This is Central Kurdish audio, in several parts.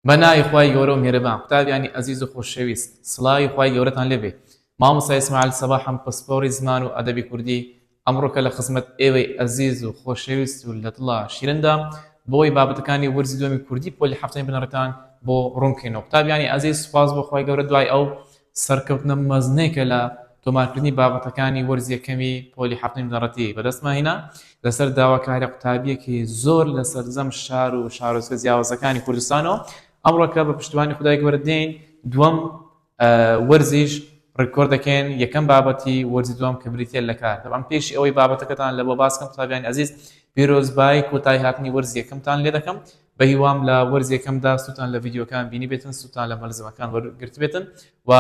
بە ناوی خوای گەورە و میهرەبان قوتابیانی ئەزیز و خۆشەویست سڵاوی خوای گەورەتان لێ بێ مامۆستا ئیسماعیل سەباحم پسپۆڕی زمان و ئەدەبی کوردی ئەمڕۆکە لە خزمەت ئێوەی ئەزیز و خۆشەویست و لە دڵا شیرندام بۆی بابەتەکانی وەرزی دووەمی کوردی پۆلی حەفتەمی بنەڕەتان بۆ ڕوون بکەینەوە قوتابیانی ئەزیز سوپاس بۆ خوای گەورە دوای ئەو سەرکەوتنە مەزنەی کە لە تۆمارکردنی بابەتەکانی وەرزی یەکەمی پۆلی حەفتەمی بنەڕەتی بەدەستمان هینا، لەسەر داواکاریە قوتابیەکی زۆر لە سەرجەم شار و شارۆچکە جیاوازەکانی کوردستانەوە، ئەمڕۆکە بە پشتیوانی خودای گەورە دێین دووەم وەرزیش ڕیکۆرد دەکەین یەکەم بابەتی وەرزی دووەم کە بریتیە لە کار، بەڵام پێش ئەوەی بابەتەکەتان لەبۆ باس بکەم قوتابیانی ئەزیز پیرۆزبایی کۆتایی هاتنی وەرزی یەکەمتان لێ دەکەم بەهیوام لە وەرزی یەکەمدا سوتان لە ڤیدیۆکان بینیبێتن سوتان لە مەلزمەکان وەرگرتبێتن و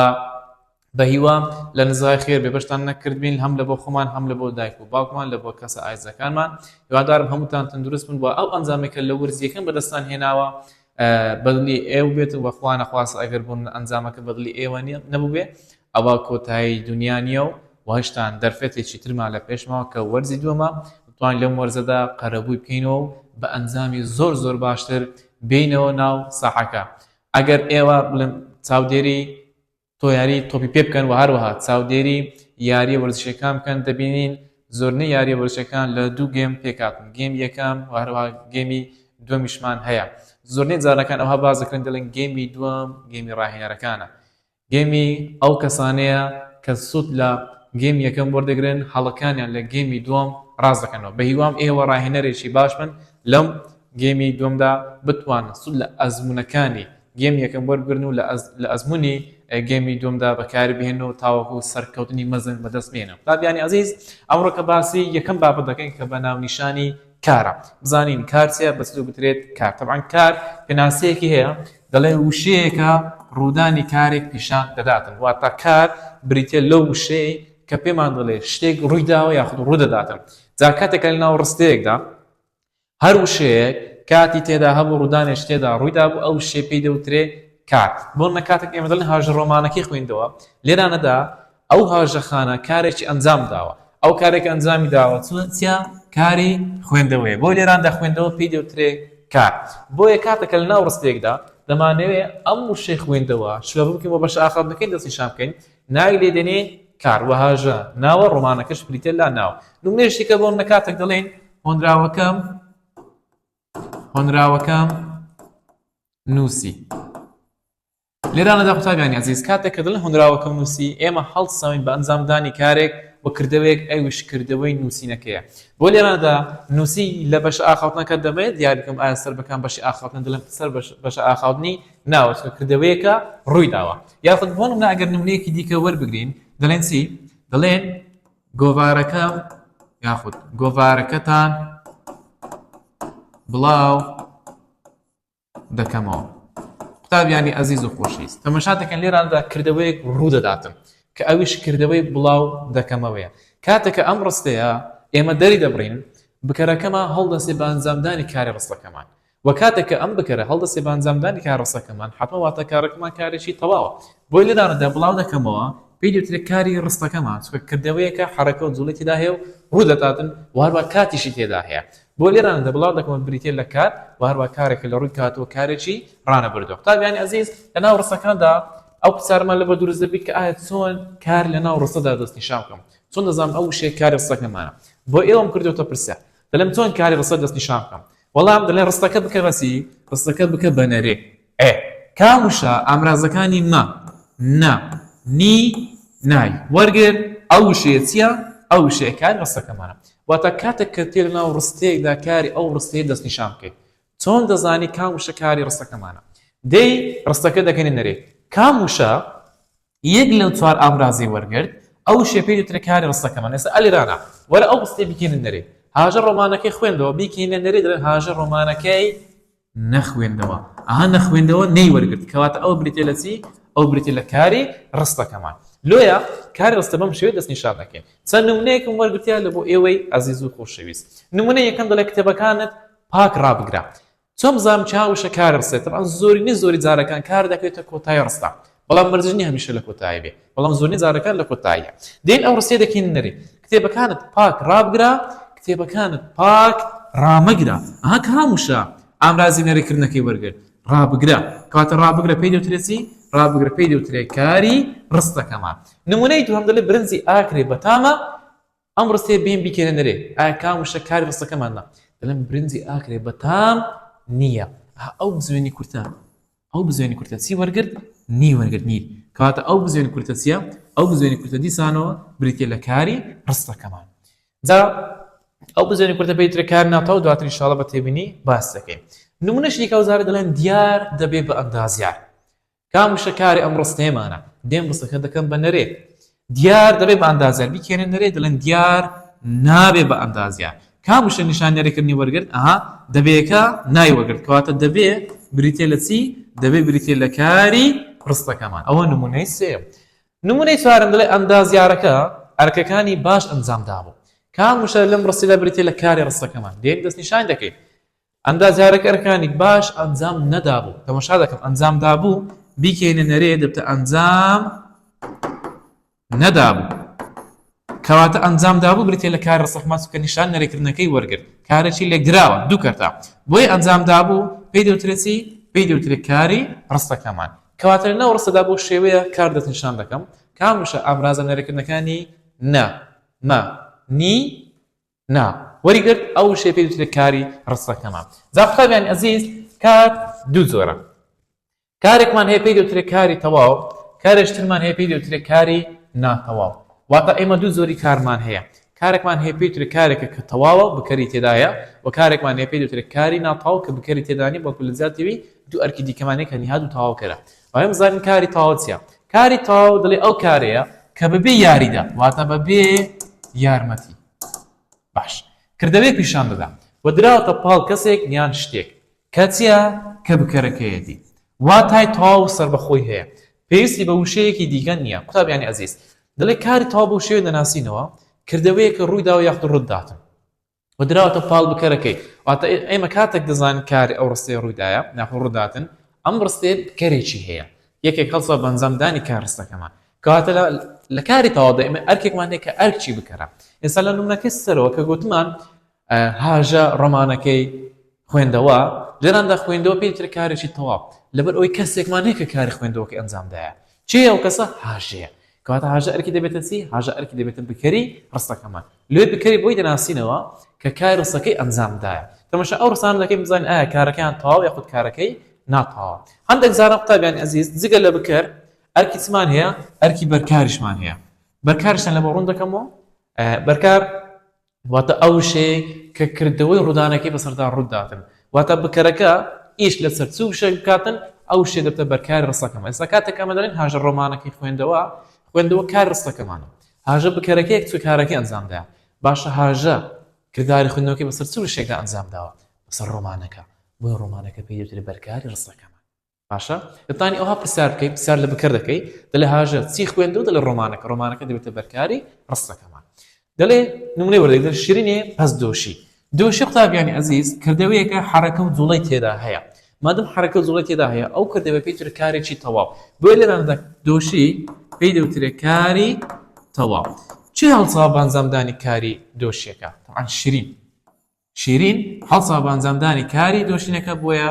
بەهیوام لە نزای خێر بێ بەشتان نەکردبین هەم لە بۆ خۆمان هەم لە بۆ دایک و باوکمان لە بۆ کەسە ئایزەکانمان هیوادارم هەمووتان تەندروست بن بۆ ئەو ئەنجامێکە لە ورزیەکەم بەدەستان هێناوە بەدلی ئێو بێت و بەخوا نەخواست ئەگەر بوون ئەنجامەکە بەدلی ئێوە نیە نەبووێ ئەوە کۆتایی دونیا نییە و وەهشتان دەرفەتێکی ترمان لە پێشماوە کە وەرزی دووەمە، دەتوانین لەم وەرزەدا قەرەبووی بکەینەوە و بە ئەنجامی زۆر زۆر باشتر بێینەوە ناو ساحەکە. ئەگەر ئێوە بڵێم چاودێری تۆ یاری تۆپی پێ بکەن و هەروەها چاودێری یاریە وەرزشیەکان بکەن دەبینین زۆرنەی یاریە وەرزشەکان لە دوو گێم پێکاتن گێم یەکەم و هەروها گێمی دومیشمان هەیە زۆرنەی جارەکان ئەوها باز دەکرێن دەڵێن گێمی دووەم گێمی ڕاهێنەرەکانە گێمی ئەو کەسانەیە کە سود لە گێمی یەکەم وەردەگرن هەڵەکانیان لە گێمی دوەم ڕاست دەکەنەوە بەهیوام ئێوە ڕاهێنەرێکی باش بن لەم گێمی دوەمدا بتوانن سود لە ئەزمونەکانی گێمی یەکەم وەربگرن و لە ئەزمونی گێمی دوەمدا بەکاری بهێنن و تاوەکو سەرکەوتنی مەزن بەدەست بهێنن. بابیانی ئەزیز ئەمڕۆ کە باسی یەکەم بابەت دەکەین کە بە ناونیشانی. کارە بزانین کار چیە بە چ دەگوترێت کار تەبعەن کار پێناسەیەکی هەیە دەڵێن وشەیەکە ڕوودانی کارێک پیشان دەداتن واتە کار بریتە لەو وشەیە کە پێمان دەڵێ شتێک ڕووی داوە یاخود ڕوو دەداتن جا کاتێکە لە ناو ڕستەیەکدا هەر وشەیەک کاتی تێدا هەبوو ڕوودانێش تێدا ڕوویدا بوو ئەو شێ پێی دەوترێ کات بۆ نە کاتێک ئێمە دەڵێن هاژە ڕۆمانەکەی خوێندەوە لێرانەدا ئەو هاوژەخانە کارێکی ئەنجام داوە. ئەو کارێک ئەنجامی داوە چیە؟ کاری خوێندەوەیە. بۆ لێراندا خوێندەوە پێی دەوترێ کار. بۆیە کاتەکە لە ناو ڕستەیەکدا دەمانەوێ ئەم وشەی خوێندەوە شلەبە بکەین و بەشە ئاخاوتنەکەی دەستنیشان بکەین، ناوی لێ دێنێ کار و هاژە ناوە، ڕۆمانەکەش بریتیە لە ناو. نمونەیەکی دیکە بۆ نمونە کاتێک دەڵێین هۆنراوەکەم هۆنراوەکەم نووسی. لێرانەدا قوتابیانی ئەزیز کاتێک کە دەڵێن هۆنراوەکەم نووسی، ئێمە هەڵدسەنگین بە ئەنجامدانی کارێک و کردەوەیەک ئەویش کردەوەی نووسینەکەیە. بۆ لێرانەدا نووسی لە بەشە ئاخاوتنەکە دەمەوێت دیار بکەم ئایا سەر بە کام بەشی ئاخاوتنە دەڵێم سەر بە بەشە ئاخاوتنی ناوە چونکە کردەوەیەکە ڕووی داوە. یاخود بۆ نمونە ئەگەر نمونەیەکی دیکە وەربگرین دەڵێن چی؟ دەڵێن گۆڤارەکەم یاخود گۆڤارەکەتان بڵاو دەکەمەوە قوتابیانی ئەزیز و خۆشەویست تەمەشا دەکەن لێراندا کردەوەیەک ڕوو دەداتن کە ئەویش کردەوەی بڵاو دەکەمەوەیە کاتێکە ئەم ڕستەیە ئێمە دەری دەبڕین بکەرەکەمان هەڵدەسێ بە ئەنجامدانی کاری ڕستەکەمان و کاتێکە ئەم بکەرە هەڵدەسێ بە ئەنجامدانی کار ڕستەکەمان حەتمە واتە کارەکەمان کارێکی تەواوە بۆی لێرانەدا بڵاو دەکەمەوە پێی دەوترێت کاری ڕستەکەمان چکە کردەوەیەکە حەرەکە و جوڵی تێدا هەیە و ڕوو دەداتن واروا کاتیشی تێدا هەیە بۆ لێرانەدا بڵاو دەکەمەوە بریتیە لە کات و هەروە کارێک کە لە ڕووی کات و کارێکی ڕانەبردوە قوتابیانی ئەزیز لە ناو ڕستەکاندا ئەو پرسیارەمان لەبەر دروست دەبیت کە ئایا چۆن کار لە ناو ڕستەدا دەست نیشان بکەم چۆن دەزانم ئەو وشەیە کاری ڕستەکەمانە بۆ ئێوەم کردوتە پرسیار دەلێم چۆن کاری ڕستە دەست نیشان بکەم وەڵام دەلێ ڕستەکە بکە بەسی ڕستەکە بکە بە نەرێ ئێ کام وشە ئامرازەکانی مە، نە، نی، نای وەرگر؟ ئەو وشەیە چییە؟ ئەو وشەیە کاری ڕستەکەمانە. واتە کاتێک کە تێ لەناو ڕستەیەکدا کاری ئەو ڕستەیە دەستنیشان بکەیت. چۆن دەزانی کام وشە کاری ڕستەکەمانە؟ دێی ڕستەکە دەکەینە نەرێ. کام وشە؟ یەک لەو چوار ئامرازەی وەرگرت ئەو شێ پێی دەوترێ کاری ڕستەکەمان ئێستا ئەلی رانا وەرە ئەو ڕستەی بکەینە نەرێ هاژە ڕۆمانەکەی خوێندەوە بیکەینە نەرێ دەڵێن هاژە ڕۆمانەکەی نەخوێندەوە ئەها نەخوێندەوە نەی وەرگرت کەواتە ئەو بریتێ لە چی ئەو بریتێ لە کاری ڕستەکەمان لۆیە کاری ڕستە بەم شێوەی دەست نیشان دەکەین چەند نمونەیەکم وەرگرتیا لە بۆ ئێوەی ئازیز و خۆشەویست نمونە یەکەم دەڵێ کتێبەکانت پاک ڕابگرە چۆن بزانم چ ها وشە کارە بسێت تەبعەن زۆرینەی زۆری جارەکان کار دەکەوێتە کۆتایی ڕستە بەڵام مەرجی نییە هەمیشە لە کۆتایی بێ بەڵام زۆرینەی جارەکان لە کۆتاییە دێن ئەو ڕستەیە دەکەینە نەرێ کتێبەکانت پاک ڕابگرە کتێبەکانت پاک ڕامەگرە ئەها کە هەم وشە ئامرازی نەرێکردنەکەی وەرگر ڕابگرە کەواتە ڕابگرە پێی دەوترێت چی ڕابگرە پێی دەوترێت کاری ڕستەکەمان نمونەی دووەم دەلێ برنجی ئاکرێ بەتامە ئەم ڕستەیە بێن بیکەنە نرێ ئایا کام وشە کاری ڕستەکەمان نا دەڵێن برنجی ئاکرێ بەتام نییە ئەو بزوێنی کورتە ئەو بزوێنی کورتە چی وەرگرت نی وەرگرت نیر کەواتە ئەو بزوێنی کورتە چییە ئەو بزوێنی کورتە دیسانەوە بریتە لە کاری ڕستەکەمان جا ئەو بزوێنی کورتە پێیترە کار ناتەوە دواتر انشاءڵە بە تێبینی باس دەکەین نمونەشی کەوزارە دەڵێن دیار دەبێ بە ئەندازیار کام وشە کارە ئەم ڕستەیەمانە؟ دێم ڕستەکە دەکەم بە نەرێ. دیار دەبێ بە ئەندازیار. بیکەنە نەرێ دەڵێن دیار نابێ بە ئەندازیار. کام وشە نیشان نەرێکردنی وەرگرت؟ ئەها دەبێکە نای وەرگرت. کەواتە دەبێ بریتیە لە چی؟ دەبێ بریتیە لە کاری ڕستەکەمان. ئەوە نمونەی سێیەم. نمونەی چوارم دەڵێ ئەندازیارەکە ئەرکەکانی باش ئەنجام دابوو. کام وشە لەم ڕستەدا بریتیە لە کاری ڕستەکەمان؟ دێک دەستنیشان دەکەین. ئەندازیارەکە ئەرکانی باش ئەنجام نەدابوو تەمەشا دەکەم ئەنجام دابوو بیکەینە نەرێ دەبتە ئەنجام نەدابوو کەواتە ئەنجام دابوو بریتێ لە کار ڕسەحماس کە نیشان نەرێکردنەکەی وەرگرت کارێکی لێکدراوە دوو کەرتا بۆی ئەنجام دابوو پێی دەوترێتی پێی دەوترێت کاری ڕستەکەمان کەواتە لەناو ڕستەدا بۆ شێوەیە کار دەستنیشان دەکەم کامشە ئامرازە نەرێکردنەکانی نا ما نی نا وەری گرت ئەو وشەیە پێی وترێ کاری ڕستەکەمان جا قوتابیانی ئەزیز کار دوو جۆرە کارێکمان هەیە پێی دەوترێ کاری تەواو کارێش ترمان هەیە پێی دەوترێ کاری ناتەواو واتە ئێمە دوو زۆری کارمان هەیە کارێکمان هەیە پێی ترێ کارێکە کە تەواوە بکەری تێدایە و کارێکمان هەیە پێی دەوترێ کاری ناتەواو کە بکەری تێدانی بەڵکو لە زیاتەوی دوو ئەرکی دیکەمانێک هەنیهاد و تەواوکەرە ئەوەی بزانین کاری تاو چیە کاری تاو دڵی ئەو کارەیە کە بەبێ یاریدا واتە بەبێ یارمەتی باش کردەوەی پیشان دەدا و دراوتە پاڵ کەسێک یان شتێک کەچە کە بکەرەکەیەتی واتای تاو سربەخۆی هەیە پێویستی بە وشەیەکی دیگە نییە قوتابیانی ئەزیز دەڵێ کاری تاو بۆ شێوێ دەناسینەوە کردەوەیەکە ڕوویدا و یاخود ڕووداتن و دراوەتە پاڵ بکەرەکەی واتە ئێمە کاتێک دەزانین کاری ئەو ڕستەیە ڕوویدایە ناخۆ ڕووداتن ئەم ڕستەیە بکەرێکی هەیە یەکێک هەڵسا بەنجامدانی کار ڕستەکەمان کەواتە لە کاری تەواودا ئێمە ئەرکێکمان هەیە کە ئەرکی بکەرە ئێستا لە نمونەکەی سەرەوە کە گوتمان هاژە ڕۆمانەکەی خوێندەوە، لێراندا خوێندەوە پێی ترە کارێکی تەواو، لەبەر ئەوەی کەسێکمان هەیە کە کاری خوێندەوەکەی ئەنجام دایە. کێیە ئەو کەسە؟ هاژەیە. کەواتە هاژە ئەرکی دەبێتە چی؟ هاژە ئەرکی دەبێتە بکەری ڕستەکەمان. لۆی بکەری بۆی دەناسینەوە کە کاری ڕستەکەی ئەنجام دایە. تەماشای ئەو ڕستانە دەکەین بزانین ئایا کارەکەیان تەواوە یاخود کارەکەی ناتەواوە. هەندێک جاران قوتابیانی ئەزیز جگە لە بکەر ئەرکی چمان هەیە؟ ئەرکی بەرکاریشمان هەیە. بەرکاریشتان لەمە ڕوون دەکەمەوە. بەرکار واتە ئەو وشەیەی کە کردەوەی ڕوودانەکەی بەسەردا ڕوو داتن، واتە بکەرەکە ئیش لەسەر چ وشەیەک بکاتن، ئەو وشەیە دەبێتە بەرکاری ڕستەکەمان. ئێستا کاتێک ئەمە دەڵێین هاژە ڕۆمانەکەی خوێندەوە، خوێندەوە کاری ڕستەکەمانە. هاژە بکەرەکەیەک چ کارەکەی ئەنجام دایە؟ باشە هاژە کرداری خوێندنەوەکەی بەسەر چ وشەیەکدا ئەنجام داوە؟ بەسەر ڕۆمانەکە. بۆیە ڕۆمانەکە پێی دەوترێ بەرکاری ڕستەکەمان. باشە دەتانی ئەوها پرسیار بکەیت پرسیار لە بکەر دەکەی دەلێ هاژە چی خوێندو دەلێ ڕۆمانەکە ڕۆمانەکە دەبێتە بەرکاری ڕستەکەمان دەلێ نمونەی وەردەگرن شیرینێ پەس دۆشی دۆشی قوتابیانی ئەزیز کردەوەیەکە حرەکە و جوڵەی تێدا هەیە مادەم حرەکە و جوڵەی تێدا هەیە ئەو کردەوە پێی تر کارێکی تەواو بۆیە لێراندا دۆشی پێی دەوترێ کاری تەواو چی هەڵسا بانزامدانی کاری دۆشیەکە تەعان شیرین شیرین، هەڵسا بۆ ئەنجامدانی کاری دۆشینەکە بۆیە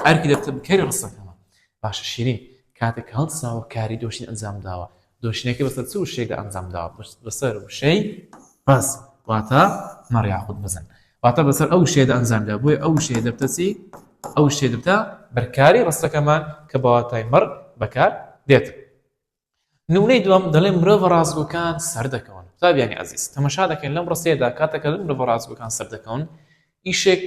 ئەرکی دەبتە بکەری ڕستەکەمان. باشە شیرین، کاتێک کە هەڵساوە کاری دۆشین ئەنجام داوە، دۆشینەکەی بەسەر چ وشەیەکدا ئەنجام داوە؟ بەسەر وشەی بەز واتە مەڕ یاخود بزن. واتە بەسەر ئەو وشەیەدا ئەنجام دا بۆیە ئەو وشەیە دەبتە چی؟ ئەو وشەیە دەبتە بەرکاری ڕستەکەمان کە بە واتای مەڕ بەکار دێت. نمونەی دووەم دەڵێن مرۆڤە ڕاستگۆکان سەردەکەون قوتابیانی عزیز تەمەشا دەکەن لەم ڕستەیەدا کاتەکە لە مرۆڤە ڕاستگۆکان سەردەکەون ئیشێک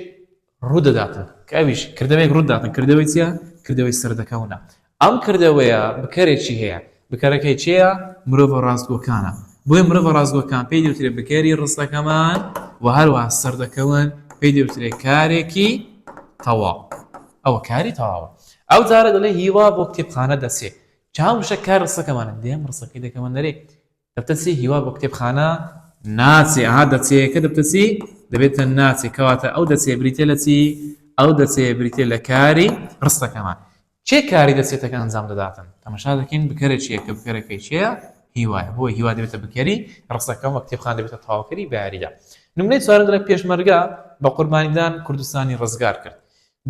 ڕوودەداتن کە ئەویش کردەوەیەک ڕووداتن کردەوەی چیە کردەوەی سەردەکەونە ئەم کردەوەیە بکەرێکی هەیە بکەرەکەی چێە مرۆڤە ڕاستگۆکانە بۆی مرۆڤە ڕاستگۆکان پێی دەوترێت بکەری ڕستەکەمان و هەروە سەردەکەون پێی دەوترێت کارێکی تەواو ئەوە کاری تەواوە ئەو جارە دەڵێ هیوا بۆ کتێبخانە دەچێت چاو وشە کار ڕسەکەمانە دێم ڕسەکەی دەکەمە نەرێ دەبتە چی هیوا بۆ کتێبخانە ناچێ ئەها دەچەیەکە دەبتە چی دەبێتە ناچێ کەواتە ئەو دەچێ بریتە لە چی ئەو دەچێ بریتە لە کاری ڕستەکەمان چێ کاری دەچێتەکە ئەنجام دەداتن تەمەشا دەکەین بکەرە چیە کە بکەرەکەی چێە هیوایە بۆ هیوا دەبێتە بکەری ڕستەکەم وە کتێبخان دەبێتە تاواکەری باریدا نمونەی چوارم دەڵێ پێشمەرگە بە قوربانیدان کوردستانی ڕزگار کرد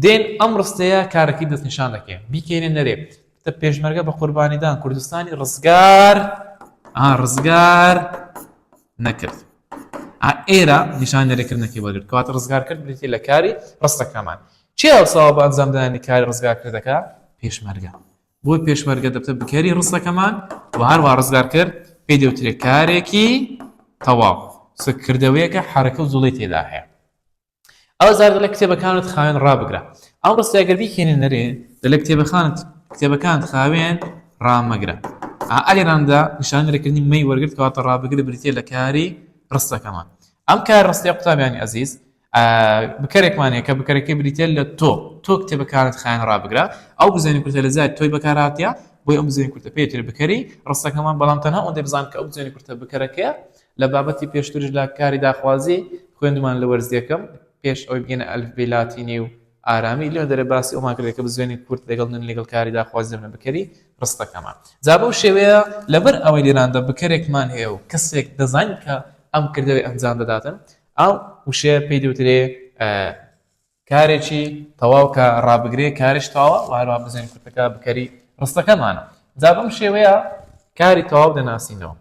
دێن ئەم ڕستەیە کارەکەی دەستنیشان دەکەین بیکەینە نەرێ تە پێشمەرگە بە قوربانیدان کوردستانی ڕزگار ڕزگار نەکرد ئێرە نیشان نەرێکردنەکەی وەرگرت کەواتە ڕزگار کرد بریتی لە کاری ڕستەکەمان چی ئەوساوە بە ئەنجامدانی کاری ڕزگارکردەکە پێشمەرگە بۆ پێشمەرگە دەبتە بکەری ڕستەکەمان و هەروە ڕزگار کرد پێ دەوترێت کارێکی تەواو سکردەوەیەکە حرەکە و زوڵی تێدا هەیە ئەو زار دەڵێ کتێبەکانت خاوێن ڕابگرە ئەم ڕستە گەر بیکەێنێ نەرێ دەلە کتێبەخانت کتێبەکانت خاوێن ڕامەگرە ئالێراندا نیشانەرەکردنی مەی وەرگرت کاتە ڕابگرە بریتە لە کاری ڕستەکەمان ئەم کار ڕستی قوتابیانی ئەزیز بکەرێکمانەیە کە بکەرەکە بریتە لە تۆ تۆ کتێبەکانت خیان ڕابگرە ئەو بزانین کوردە لە زای تۆی بەکاراتە بۆی ئەم بزانین کوردە پێتر بکەری ڕستەکەمان بەڵام تەنها ئەوەندە بزان کە ئەو بزانین کوردە بکەرەکەیە لە بابەتی پێشتریش لە کاری داخوازی خوێندمان لە وەرز یەکەم پێش ئەوەی بگەینە ئەلفبێی لاتینی و ئارامی لێ دەرێ باسی ئەومان کردێت کە بزوێنی کورد لەگەڵ نن لەگەڵ کاری داخوازی دەبنە بکەری ڕستەکەمان جا بەو شێوەیە لەبەر ئەوەی لێراندا بکەرێکمان هەیە و کەسێک دەزانین کە ئەم کردەوەی ئەنجام دەداتن ئەو وشەیە پێی دەوترێ کارێکی تەواو کە ڕابگرێ کارش تاوە واروا بزێن کوتەکە بکەری ڕستەکەمانە جا بەم شێوەیە کاری تەواو دەناسینەوە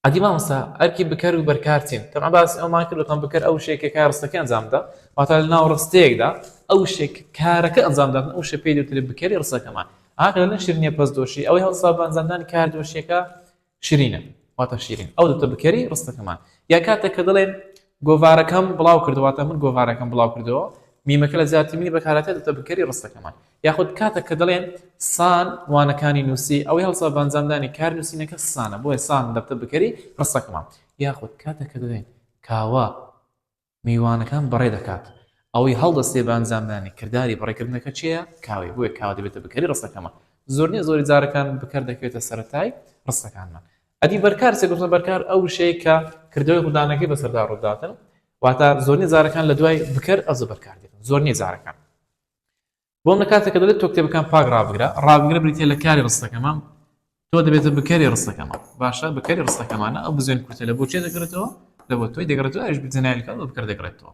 ئەدی مامۆستا ئەرکی بکەر و بەرکار چین تەبعەن باسی ئەومان کرد وتمان بکەر ئەو شتێکە کە ڕستەکەی ئەنجام دەدا واتە لەناو ڕستەیەکدا ئەو شتێک کە کارەکە ئەنجام دادن ئەو شتە پێی دەوترێت بکەری ڕستەکەمان ئاخر لەنێ شیرینیە پەس دۆشی ئەوەی هەڵسا بە ئەنجامدانی کار دۆشیەکە شیرینە واتە شیرین ئەو دوتە بکەری ڕستەکەمان یا کاتێک کە دەڵێن گۆڤارەکەم بڵاو کردەوە واتە من گۆڤارەکەم بڵاو کردەوە میمەکە لە جیاتی منی بەکارهاتێت وتە بکەری ڕستەکەمان یاخود کاتەک کە دەڵێن سان وانەکانی نووسی ئەوەی هەڵسا بە ئەنجامدانی کار نووسینەکە سانە بۆیە سان دەبتە بکەری ڕستەکەمان یاخود کاتەک کە دەڵێن کاوە میوانەکان بەڕێ دەکات ئەوەی هەڵدەستێ بە ئەنجامدانی کرداری بەڕێکردنەکە چییە کاوەی بۆیە کاوە دەبێتە بکەری ڕستەکەمان زۆر نییە زۆری جارەکان بکەر دەکەوێتە سەرەتای ڕستەکانمان ئەدی بەرکار چێ گوتنە بەرکار ئەو وشەیە کە کردەوەی ڕوودانەکەی بەسەردا ڕووداتن واتە زۆرنی جارەکان لە دوای بکەر ئەز بەرکار دێتن زۆرنی جارەکان بۆم لە کاتێکە دەڵێت تۆ کتێبەکان پاک ڕابگرە ڕابگرە بریتە لە کاری ڕستەکەمان تۆ دەبێتە بکەری ڕستەکەمان باشە بکەری ڕستەکەمانە ئەو بزوێن کورتە لە بۆچێ دەگرێتەوە لە بۆ تۆی دەگرێتەوە ئەش بزنایلکە بە بکرد دەگرێتەوە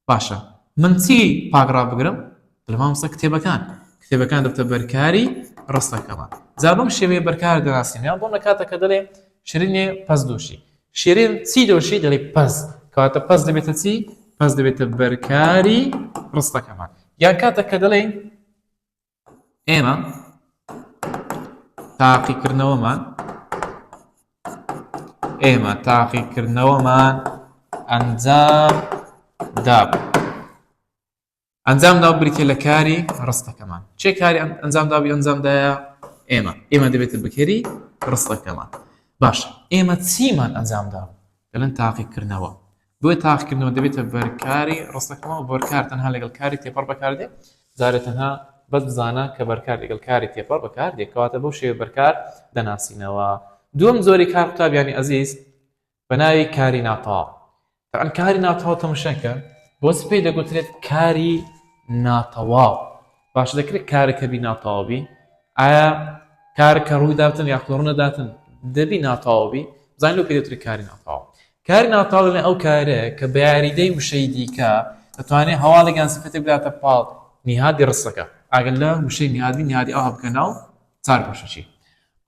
باشە من چی پاگڕا بگرم دەڵێ مامۆستا کتێبەکان کتێبەکان دەبتە بەرکاری ڕستەکەمان جا بەم شێوەیە بەرکار دەناسینیان بۆ نەکاتە کە دەڵێ شرینێ پەس دۆشی شێرێن چی دۆشی دەڵێ پەس کەواتە پەس دەبێتە چی پەس دەبێتە بەرکاری ڕستەکەمان یان کاتە کە دەڵێ ئێمە تاقیکردنەوەمان ئێمە تاقیکردنەوەمان ئەنجام داب ئەنجام دا بریتە لە کاری ڕستەکەمان چێ کاری ئەنجام دابی ئەنجامدایە ئێمە ئێمە دەبێتە بکەری ڕستەکەمان باشە ئێمە چیمان ئەنجام دا دەڵێن تاقیکردنەوە بۆ تاقیکردنەوە دەبێتە بەرکاری ڕستەکەمەوە، بەرکار تەنها لەگەڵ کاری تێپەڕ بەکاردێت، جارێ تەنها بەس بزانە کە بەرکار لەگەڵ کاری تێپەڕ بەکاردێت کەواتە بەو شێوەیە بەرکار دەناسینەوە. دووەم جۆری کار قوتابیانی ئەزیز بە ناوی کاری ناتەواو. تەبعەن کاری ناتەواو تەمشاکە بۆچ پێی دەگوترێت کاری ناتەواو؟ باشە دەکرێت کارێک هەبی ناتەواوبی ئایا کارە کە ڕووی داتن یا کۆڕنە داتن دەبی ناتەواوبی زان لەو پێدەتری کاری ناتەواو کاری ناتەواو لە ئەو کارە کە بە یاریدەی وشەی دیکە دەتوانێت هەواڵێکیان سفەتێک بداتە پاڵ نهادی ڕستەکە ئەگەر لە وشەی نهادی نهادی ئەوها بکە ناو چار بەشەچی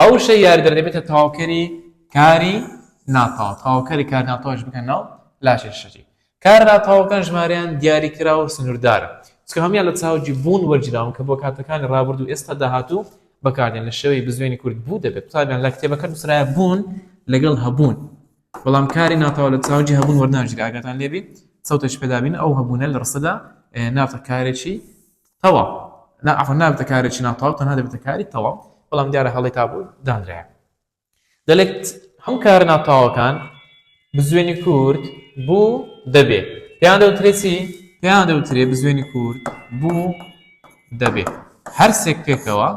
ئەو وشە یاری دەردەبێتە تەواوکەری کاری ناتەواو تەواوکەری کار ناتەواش بکە ناو لاشێشەچی کارە ناتەواوەکان ژمارەیان دیاریکراو و سنووردارە، چونکە هەموویان لە چاوگی بوون وەرگیراون کە بۆ کاتەکانی ڕابردوو، ئێستا، داهاتوو بەکاردێن لە شێوەی بزوێنی کورت بوو دەبێت قوتابیان لە کتێبەکە نووسرایە بوون لەگەڵ هەبوون بەڵام کاری ناتەواو لە چاوگی هەبوون وەرناگیرێت ئاگاتان لێبی سەوتێکی پێدابین ئەو هەبوونە لە ڕستەدا نابتە کارێکی تەواو نا عەفەن نابتە کارێکی ناتەواو تەنها دەبێتە کاری تەواو بەڵام دیارە هەڵەی تا بوو دانرایە دەلێت هەموو کارە ناتەواوەکان بزوێنی کورد بوو دەبێ پێیان دەوترێت چی؟ پێیان دەوترێت بزوێنی کورد بوو دەبێ هەرسێک پێکەوە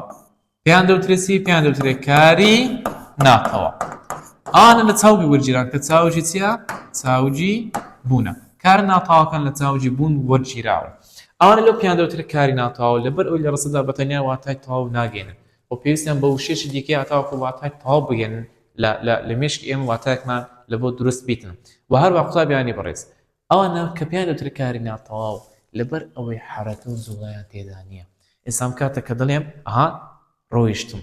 پێیان دەوترێت چی پێیان دەوترێت کاری ناتەوا ئانە لە چاوگی وەرگیران کە چاوجی چیە چاوجی بوونە کار ناتاوەکان لە چاوجی بوون وەرگیراوە ئەوانە لەو پیان دەوترێت کاری ناتاو لەبەر ئەوی لە ڕسەدا بەتەنیا واتای تاو ناگەێنن و پێویستیان بە وشەیەکی دیکەیە هەتاوەکو واتای تەواو بگەێنن لە لە لە مێشکی ئێمە واتایەکمان لە بۆ دروست بیتن و هەروە قوتابیانی بەڕێز ئەوانە کە پێیان دەوترێت کاری ناتەواو لەبەر ئەوەی حەرەکە و جوڵەیان تێدا نییە ئێسام کاتە کە دەڵێم ئەها ڕۆیشتم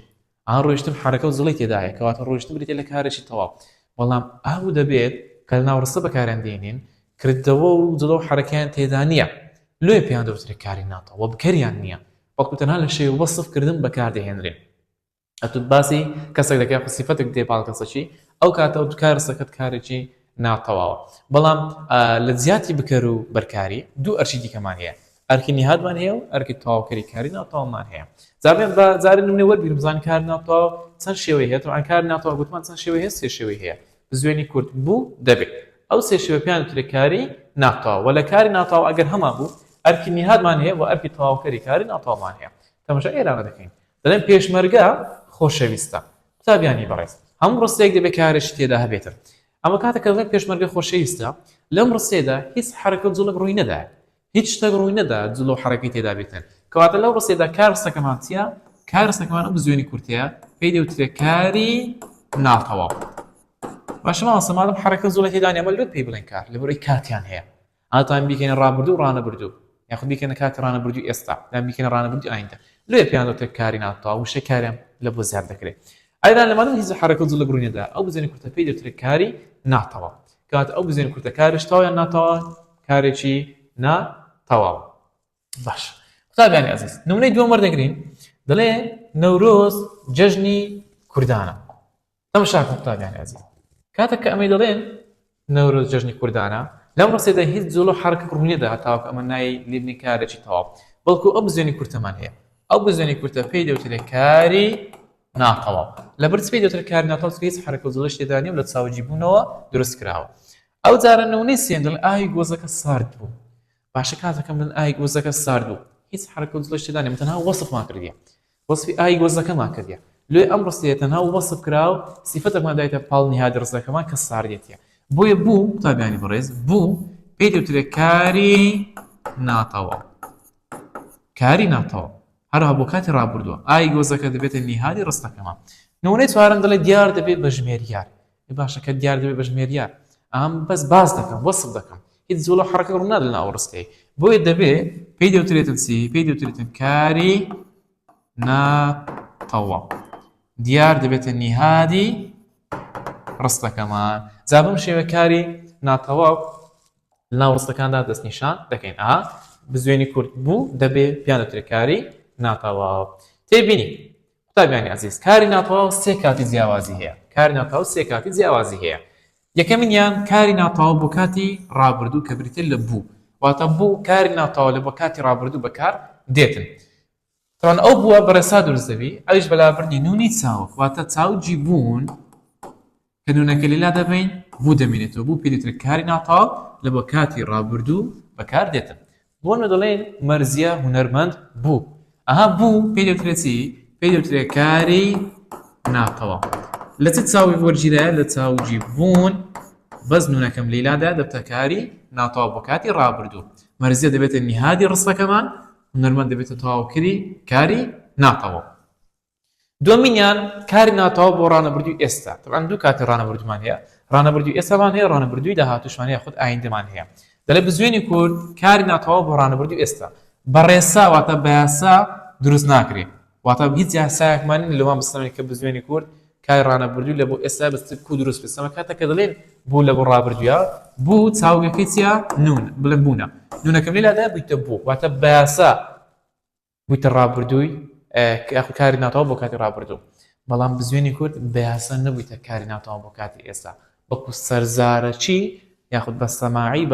ئا ڕۆیشتم حەرەکە و جوڵی تێدایە کەواتە ڕۆیشتن بریتە لە کارێکی تەواو بەڵام ئاو دەبێت کە لە ناوڕستە بەکاریان دێنین کردەوە و جڵە و حەرەکەیان تێدا نییە لێ پێیان دەوترێت کاری ناتەوە بکەریان نییە بەڵکو تەنها لە شێوە وەسف کردن بەکار دەهێنرێ. ئەتو باسی کەسێک دەکەی یاخود سیفەتێک دێ پاڵ کەسەکی ئەو کاتە ئەو کار ڕستەکەت کارێکی ناتەواوە. بەڵام لە جیاتی بکەر و بەرکاری دوو ئەرکی دیکەمان هەیە. ئەرکی نیهادمان هەیە و ئەرکی تەواوکەری کاری ناتەواومان هەیە. جا بێم بە جارێ نمونەی وەربگرم بزانین کار ناتەواو چەند شێوەی هەیە. تەبعەن کار ناتەواو گوتمان چەند شێوەی هەیە سێ شێوەی هەیە. بزوێنی کورت بوو دەبێ ئەو سێ شێوە پێیان وترێ کاری ناتەواو وە لە کاری ناتەواو ئەگەر هەمان بوو ئەرکی نیهادمان هەیە و ئەرکی تەواوکەری کاری ناتەواومان هەیە تەمەشا ئێرانە دەکەین دەڵێن پێشمەرگە خۆشەویستە قوتابیانی بەڕێز هەموو ڕستەیەک دەبێت کارێکی تێدا هەبێتن ئەمە کاتە کە دەڵێن پێشمەرگە خۆشەویستە لەم ڕستەیەدا هیچ حرەکە و جوڵێک ڕووی نەدایە هیچ شتەک ڕووی نەدا جل و حەرەکەی تێدا بێتن. کەواتە لەو ڕستەیەدا کار ڕستەکەمان چیە؟ کار ڕستەکەمان ئەم بزوێنی کورتەیە پێی دەوترێ کاری ناتەواو. باشە مامۆستا مادەم حەرەکە جوڵەی تێدا نیە ئەمە لۆ پێی بڵێن کار لەبەرئەوەی کاتیان هەیە. ئاتان بیکەنە ڕابردوو و ڕانەبردوو یاخود بیکەنە کاتی ڕانەبردووی ئێستا یان بیکەنە ڕانەبردووی ئایندە لۆیە پێیان دەوترێ کاری ناتەواو وشەی کاریان لە بۆ زیاد دەکرێ. ئەرا لە مادەم هیچ حەرەکە جوڵە ڕووی نەدا ئەو بزوێنی کورتە پێی دەوترێ کاری ناتەواو. کەواتە ئەو بزوێنی کورتە کارش تەواو یان ناتەواوە؟ کارێکی نا تەواو باش قوتابیانی ئەزیز نمونەی دووەم وەردەگرین دەڵێ نەورۆز جەژنی کوردانە ئەم شاک قوتابیانی ئەزیز کاتێک کە ئەمەی دەڵێن نەورۆز جەژنی کوردانە لەم ڕستێدا هیچ جوڵ و حرک ڕوونیدا هەتاوک ئەمە نای لیبنی کارێکی تەواو بەڵکو ئەو بزیێنی کورتەمان هەیە ئەو بزیێنی کورتە پێی دەوترێت کاری ناتەواو لە برچ پێی دەوتر کار ناتەوە هیچ حرکە جوڵش تێدانی و لە چاوجی بوونەوە دروست کراوە ئەو جارە نمونەی سێندل ئاوی گۆزەکە سارد بوو باشە کاتەکە من ئای گۆزەکە سارد بوو هیچ حرکە و جلۆش تێدانێ تەنها وەسفمان کردیە وەسفی ئای گۆزەکەمان کردیە لێ ئەم ڕستەیە تەنها وەسف کرا و سیفەتەکمان دایتە پاڵ نهادی ڕستەکەمان کە ساردێتیە بۆیە بوو قوتابیانی بەڕێز بوو پێی دەوترێ کاری ناتەواو کاری ناتەواو هەروها بۆ کاتی ڕابردووە ئای گۆزەکە دەبێتە نیهادی ڕستەکەمان نمونەی چوارم دەڵێ دیار دەبێت بە ژمێریار ئەی باشە کە دیار دەبێ بە ژمێریار ئام بەس باس دەکەم وەسف دەکەم هیچ جوڵە و حەڕەکەت ڕوو نادەن ئەو ڕستەی بۆیە دەبێ پێی دەوترێتن چی پێی دەوترێتن کاری ناتەواو دیار دەبێتە نیهادی ڕستەکەمان جا بەم شێوە کاری ناتەواو ناو ڕستەکاندا دەستنیشان دەکەین ئا بزوێنی کورت بوو دەبێ پیانە ترکاری ناتەواو تێبینی قوتابیانی ئازیز کاری ناتەواو سێ کاتی جیاوازی هەیە کاری ناتەواو سێ کاتی جیاوازی هەیە یەکەمینیان کاری ناتەواو بۆ کاتی ڕابردوو کە بریتە لە بوو واتە بوو کاری ناتەواو لە بۆ کاتی ڕابردوو بەکار دێتن تەوان ئەو بووە بەڕێسا دروست دەبی ئەوش بەلابردنی نونی چاوک واتە چاوجی بوون کە نونەکە لێ لادەبەین بوو دەمینێتەوە بوو پێ دەوترێت کاری ناتاو لە بۆ کاتی ڕابردوو بەکار دێتن بۆ نە دەڵێن مەرزیە هونەرمەند بوو ئەها بوو پێ دەوترێت چی پێ دەوترێت کاری ناتەوە لە چ چاوی وەرگیرایە لە چاوجی بوون بەس نونەکەم لیلادا دەبتەکاری ناتاو بۆ کاتی ڕابردوو مەرزیە دەبێتە نیهادی ڕستەکەمان هونەرمەند دەبێتە تاوکری کاری ناتەوە دومینیان کاری ناتەواو بۆ ڕانەبردوی ئێستا تەبان دوو کاتی ڕانەبردمان هەیە ڕانەبردوی ئێسامان هەیە ڕانەبردوی داهاتوشمان هەیە خود ئایندەمان هەیە دەلێ بزوێنی کورد کاری ناتەواو بۆ ڕانەبردوی ئێستا بەڕێسا واتە بەیاسا دروست ناکرێت واتە هیچ یاسایەکمان لەوان بستەمێک کە بزوێنی کورد کای ڕانەبردوی لە بۆ ئێستا بەستر کو دروست بستەمە کاتە کە دەڵێن بۆ لە بۆ ڕابردوە بۆ چاوگەکەی چیا نون بڵم بوونە نونەکەم لەلادا بیتە بۆ واتە بەیاسا وتی ڕابردووی یاخود کاری ناتەواو بۆ کاتی ڕابردوو بەڵام بزوێنی کورد بەیاسە نەبوویتە کاری ناتەواو بۆ کاتی ئێستا بەڵکو سەرزارەکی یاخود بە سەماعی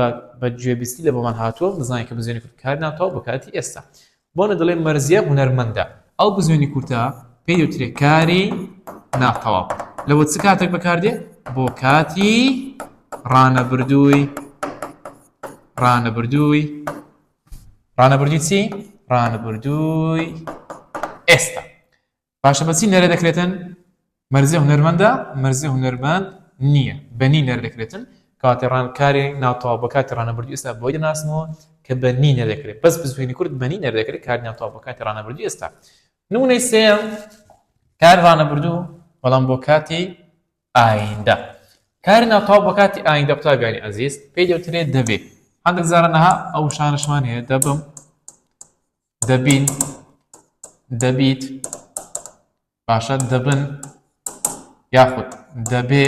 بە گوێبیستی لە بۆمان هاتووە دەزانانی کە بزوێنی کورد کار ناتەواو بۆ کاتی ئێستا بۆنە دەڵێ مەرزیە هونەرمەندە ئەو بزوێنی کورتە پێی دەوترێت کاری ناتەواو لەوە چ کاتێک بەکاردێ بۆ کاتی ڕانەبردووی ڕانەبردووی ڕانەبردووی چی ڕانەبردووی ئێستا باشە بەچی نەرە دەکرێتن مەرزی هونەرمەندە مەرزی هونەرمەند نییە بەنی نەر دەکرێتن کاتی ڕان کاری ناوتەوا بە کاتی ڕانەبردی ئێستا بۆی دەناسمەوە کە بەنی نەدەکرێت بەس بزوێنی کورد بەنی نەردەکرێت کار ناوتەوا بە کاتی ڕانەبردی ئێستا نونەی سێم کار ڕانەبردوو بەڵام بۆ کاتی ئایندە کاری ناتەواو بە کاتی ئایندە قوتابیانی ئەزیز پێی دەوترێت دەبێ هەندێک زارەنەها ئەو شانشمان هەیە دەبم دەبین دەبیت باشە دەبن یاخود دەبێ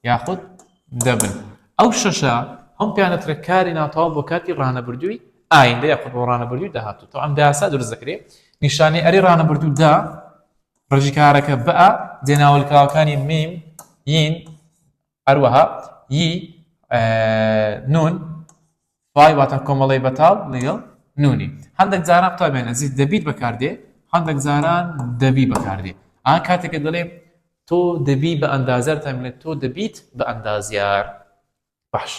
یاخود دەبن ئەو شەشە ئەم پیانەترە کاری ناتەواو بۆ کاتی ڕانەبردووی ئایندە یاخود بۆ ڕانەبردووی داهاتوو تەوام داسا دروست دەکرێت نیشانەی ئەری ڕانەبردوودا ڕژیکارەکە بئ جێ ناولکراوەکانی میم، یین، هەروەها، ی، نون، فای واتە کۆمەڵەی بەتاڵ لەگەڵ نونی. هەندەک جاران قوتابیان ئەزیز دەبیت بەکاردێ، هەندەک جاران دەبی بەکاردێ. ئا کاتێک کە دەڵێم تۆ دەبی بە ئەندازیار وتان بینە تۆ دەبیت بە ئەندازیار. باش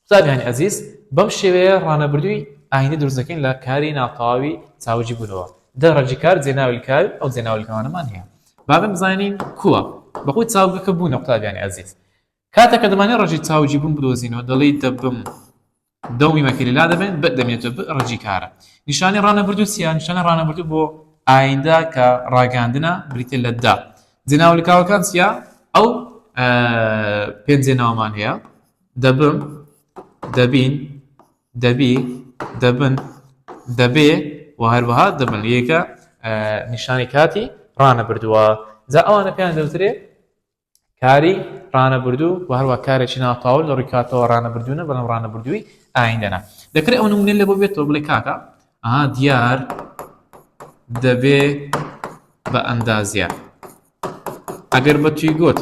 قوتابیانی ئەزیز بەم شێوەیە ڕانەبردووی ئایندە دروست دەکەین لە کاری ناتەواوی چاوجی بوونەوە دە ڕەجی کار جێناویل کار ئەو جێناویل کەوانەمان هەیە بابم زانین کووە بەخۆی چاوگەکە بوونە قوتابیانی ئەزیز کاتە کە دەمانێ ڕەجی چاوجی بوون بدۆزینەوە دەڵی دەبم دەومی مەکەلی لا دەبێن بە دەمێتە ڕەجی کارە نیشانی ڕانەبردوو سیان نیشانە ڕانەبردوو بۆ ئایندە کە ڕاگەاندنە بریتە لە دا جێناوە لکاوەکان چیە؟ ئەو پێنج جێناوەمان هەیە دەبم دەبین دەبی دەبن دەبێ و هەروەها دەبن یەکە نیشانی کاتی ڕانە بردووە جا ئەوانە پێیان دەوترێ کاری ڕانە بردو و هەروە کارێکی ناتاول لە ڕیکاتەوە ڕانە بردوونە بەڵام ڕانە بردووی ئایندەنا دەکرێت ئەو نمونێن لە بۆ بێتەوە بڵێ کاکە ئەها دیار دەبێ بە ئەندازیار ئەگەر بە توی گوت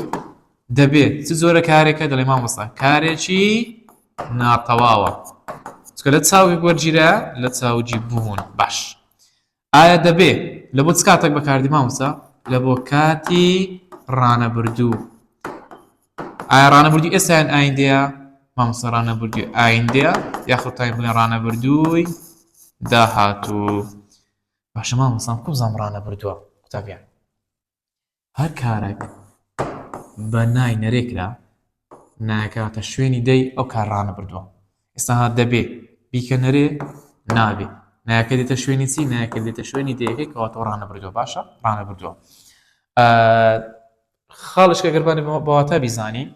دەبێ چ جۆرە کارێکە دەڵێ مامۆستا کارێکی ناتەواوە چکە لە چاوی وەرگیرە لە چاوجی بوون باش ئایا دەبێ لە بۆ چ کاتێک بەکاردی مامۆستا لە بۆ کاتی ڕانەبردوو ئایا ڕانەبردووی ئێستا یان ئایندەیە مامۆستا ڕانەبردووی ئایندەیە یاخود تایم بڵێن ڕانەبردووی داهاتوو باشە مامۆستام کۆ بزانم ڕانەبردووە قوتابیان هەر کارێک بە نای نەرێکرا ناکاتە شوێنی دەی ئەو کار ڕانەبردووە ئێستا ها دەبێ بیکە نەرێ نابێ نایەکە دێتە شوێنی چی نایەکە دێتە شوێنی دەیەکەی کەواتەوە ڕانەبردووە باشە ڕانەبردووە خاڵێک کە گەر بانێ بە واتا بیزانین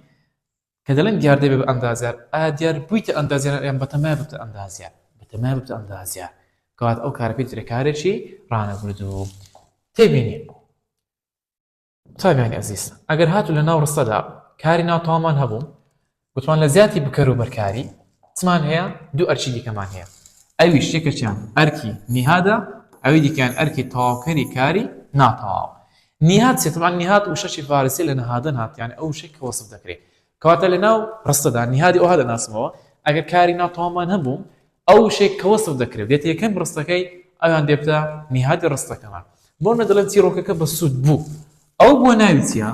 کە دەڵێن دیاردەی بە ئەندازیار ئا دیار بوویتە ئەندازیار یان بەتەمای ببتە ئەندازیار بەتەمای ببتە ئەندازیار کەوات ئەو کارە پێ درێ کارێکی ڕانەبردوو تێبینی قوتابیانی ئەزیز ئەگەر هاتو لە ناو ڕستەدا کاری ناتەوامان هەبوو وتمان لە زیاتی بکەر و بەرکاری چمان هەیە دوو ئەرکی دیکەمان هەیە ئەویش یەکێکیان ئەرکی نیهادە ئەوی دیکەیان ئەرکی تەواوکەری کاری ناتەواو نیهاد چێ طبعا نیهاد وشەکی فارسی لە نەهادن هات یعنی ئەو وشەی کە وەسف دەکرێت کەواتە لەناو ڕستەدا نیهادی ئەوها دەناسمەوە ئەگەر کاری ناتەواومان هەبوو ئەو وشەی کە وەسف دەکرێ و دێتە یەکەم ڕستەکەی، ئەویان دێتە نیهادی ڕستەکەمان. بۆ نموونە دەڵێن چیرۆکەکە بەسوود بوو. ئەو بووە ناوی چیا؟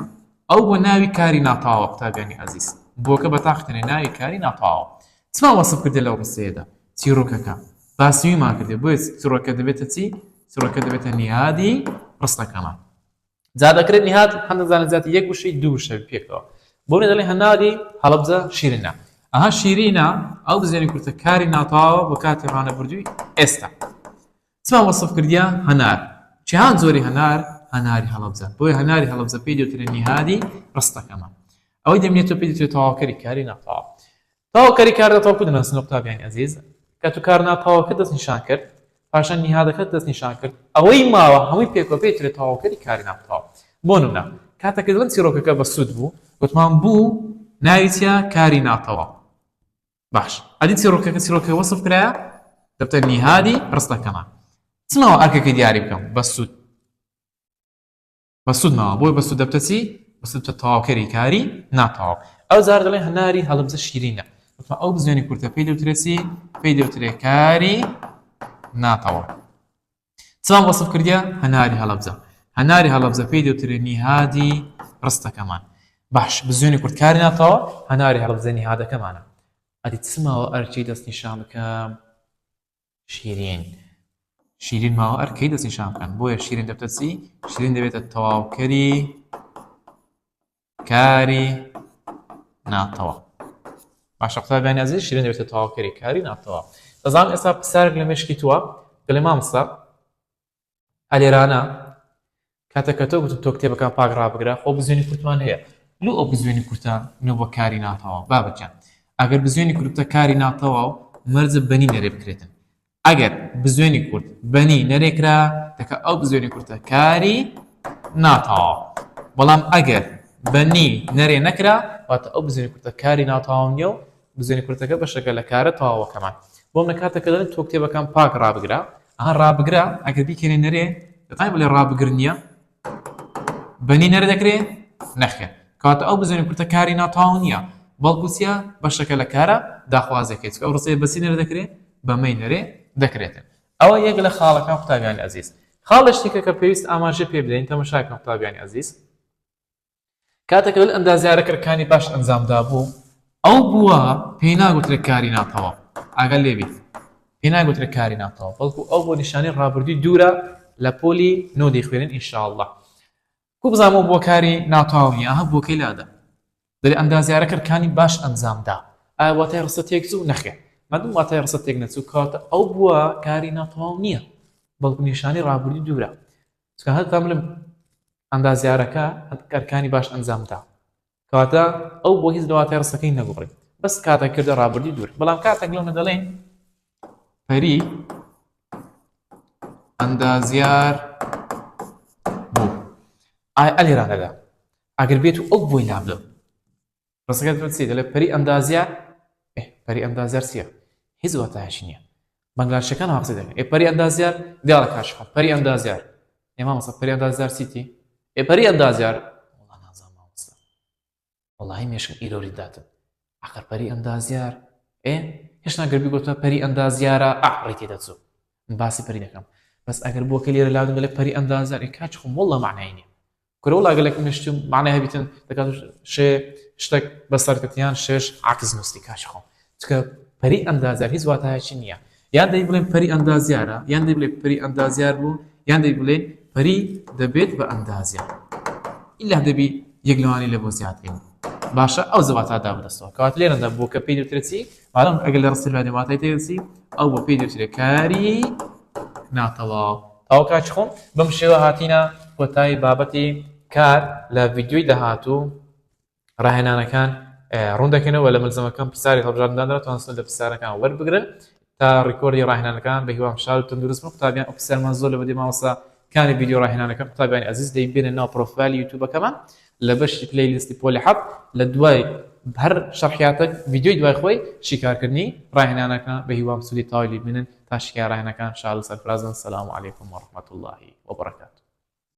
ئەو بووە ناوی کاری ناتەواوە قوتابیانی ئازیز. بووەکە بە تاقی تەنێ ناوی کاری ناتەواوە. چمان وەسف کردێ لەو ڕستەیەدا؟ چیرۆکەکە. باسی ویمان کردێ. بۆیە چیرۆکەکە دەبێتە چی؟ چیرۆکەکە دەبێتە نیهادی ڕستەکەمان. جا دەکرێت نیهاد هەندێک جار نەجاتی یەک وشەی دوو وشە پێکەوە بۆ منە دەڵێ هەناری هەڵەبجە شیرینە ئەها شیرینە ئەو دزێنی کورتە کاری ناتەواوە بە کاتی ڕانەبردووی ئێستا چما وەسف کردیا هەنار چیان زۆری هەنار هەناری هەڵەبجە بۆی هەناری هەڵەبجە پێی دەوترێن نیهادی ڕستەکەمان ئەوەی دەمێتەوە پێی دەتوێت تەواوکەری کاری ناتەواو تاوەکاری کاردا تاوەکو دەناسن ئۆکتاڤیانی ئەزیز کات و کار ناپاوەکە دەست نیشان کرد پاشان نیهادەکە دەست نیشان کرد ئەوەی ماوە هەمووی پێکەوە پێی ترێ تاوەکەری کاری ناپاو بۆنمونە کاتە کردن چیڕۆکەکە بە سود بوو وتمان بوو ناوی چیا کاری ناتەوا باش ئەدی چیڕۆکەکە چیرۆکە وەسف کرایە دەبتە نیهادی ڕستەکەمان چمەوە ئەرکەکەی دیاری بکەم بە سود بەسود ماوە بۆی بەسود دەبتە چی بەسود بە تەواوکەری کاری ناتەواو ئەو جار دەڵێ هەناری هەڵبجە شیرینە وتما ئەو بزیێنی کورتە پێی دەوترێتی پێی دەوترێ کاری ناتەواو چاوان وەسف کردیا هەناری هەڵبجە هەناری هەڵبجە پێی دەوترێ نیهادی ڕستەکەمان باش بزیێنی کورتکاری ناتەوە هەناری هەڵبجە نیهادەکەمانە ئەدی چماوە ئەرچی دەستنیشان بکەم شیرین شیرین ماوە ئەر کەی دەستی شان بکەن بۆیە شیرین دەبتە چی شیرین دەبێتە تەواوکەری کاری ناتەوە باشە قوتابیان نازی شیرین دەبێتە تەواوکەری کاری ناتەوە دەزانم ئێستا پرسیارێک لە مشکی تووە دەڵێ مامستا ئەلێرانە کاتە کە تۆ گوتم تۆ کتێبەکان پاک ڕابگرە خۆ بزوێنی کورتمان هەیە لو ئەو بزوێنی کورتە نە بۆ کاری ناتەواو بابەکیان ئەگەر بزوێنی کورتە کاری ناتەواو مەرزە بەنی نەرێ بکرێتن ئەگەر بزوێنی کورت بەنی نەرێکرا دەکە ئەو بزوێنی کورتە کاری ناتەواو بەڵام ئەگەر بەنی نەرێ نەکرا واتە ئەو بزوێنی کورتە کاری ناتەواو نیە و بزوێنە کورتەکە بەشێکە لە کارە تەواوەکەمان. بۆم لە کاتێکە دەڵێن تۆ کتێبەکان پاک ڕابگرە. ئەها ڕابگرە ئەگەر بیکەنێ نەرێ دەتوانین بڵێ ڕابگر نییە؟ بەنی نەرێ دەکرێ؟ نەخێر. کەواتە ئەو بزوێنە کورتە کاری ناتەواو نییە، بەڵکو چییە؟ بەشێکە لە کارە داخوازییەکەی. چونکە ئەو ڕستەیە بە چی نەرێ دەکرێ؟ بە مەی نەرێ دەکرێت. ئەوە یەک لە خاڵەکان قوتابیانی ئەزیز. خاڵێکی کە کە پێویست ئاماژە پێ بدەین تەمەشای بکەن قوتابیانی ئەزیز. کاتێک لەل ئەندازیارە کەرکانی باش ئەنجام دابوو ئەو بووە پێی ناگوترێت کاری ناتەواو ئاگەر لێبیت پێی ناگوترێت کاری ناتەواو بەڵکو ئەو بۆ نیشانی ڕابردووی دوورە لە پۆلی نۆ دەیخوێنن ئینشاءاللە کو بزانەوە بۆ کاری ناتەواو نیە ئەها بۆکەی لادا دەری ئەندازیارە کەرکانی باش ئەنجام دا ئایا واتای ڕستە تێک چوو نەخێ مادوم واتای ڕستە تێک نەچوو کاتە ئەو بووە کاری ناتەواو نییە بەڵکو نیشانی ڕابردووی دوورە چونکە هەر تەملم ئەندازیارەکە ئەرکانی باش ئەنجام دا کەواتە ئەو بۆ هیچ لەواتای ڕستەکەی نەگوڕی بەس کاتە کردە ڕابردی دوور بەڵام کاتێک لەونە دەڵێن پەری ئەندازیار بوو ئای ئەلیرانەدا ئەگەر بێت و ئەو بۆی لابدە ڕستەکە دەڵێت چی دەڵێت پەری ئەندازیار پەری ئەندازیار چییە هیچ واتایەکی نییە بەنگلادشەکان هەقسە دەکەن ئێ پەری ئەندازیار دیارە کاشخە پەری ئەندازیار ئێ مامۆستا پەری ئەندازیار چیتی ئێ پەری ئەندازیار وەڵا نازانم مامۆستا وەڵاهی مێشکم ئیرۆری داتن ئەخر پەری ئەندازیار ئێ هێشتا گەربی گوتە پەری ئەندازیارە ئەعڕی تێدەچوو باسی پەری دەکەم بەس ئەگەر بۆکە لێرە لاودم دەڵێ پەری ئەندازیار ئێ کاچ خۆم وەڵا معنای نییە کورە وڵا گەلەک مشتم معنای هەبیتن دەکات شێ شتێک بەسەرکەتیان شێش عکس نووسی کاش خۆم چکە پەری ئەندازار هیچ واتایەکی نییە یان دەی بڵێن پەری ئەندازیارە یان دەی بڵێ پەری ئەندازیار بوو یان دەی بڵێ پەری دەبێت بە ئەندازیار ئیلا دەبی یەک لەوانی لە بۆ زیاترین باشە ئەو زەواتادا بدەستەوە کەوات لێرەدا بۆ کە پێی دەوترێتی بەڵام ئەگەر لە ڕسیلڤانیا واتای تێدەچی ئەو بۆ پێی دەوترێت کاری ناتەواو تاو کاچ خۆم بەم شێوە هاتینە کۆتایی بابەتی کار لە ڤیددیوی داهاتوو ڕاهێنانەکان ڕوون دەکەنەوە لە ملزمەکەم پرسیاری هەڵبژاردندانەوە توانستن لە پرسیارەکان وەربگرن تا ڕیکۆردی ڕاهێنانەکان بە هیوام شار و تەندروست بن قوتابیان ئۆفیسەرمان زۆر لە بەدی مامۆستا کانی ڤیددیو ڕاهێنانەکە قوتابیانی ئەزیز دەیبێنە ناو پرۆفایلی یوتیوبەکەمان لە بەشی پلەی لیستی پۆلی حەفت لە دوای هەر شەرحیاتەک ڤیدیۆی دوای خۆی شیکارکردنی ڕاهێنانەکە بەهیوام سودی تەواوی لێبینن تا شیکاری ڕاهێنەکان شاد و سەرفرازبن سلام علیکم و رحمەتوڵڵاهی و بەڕەکاتوو.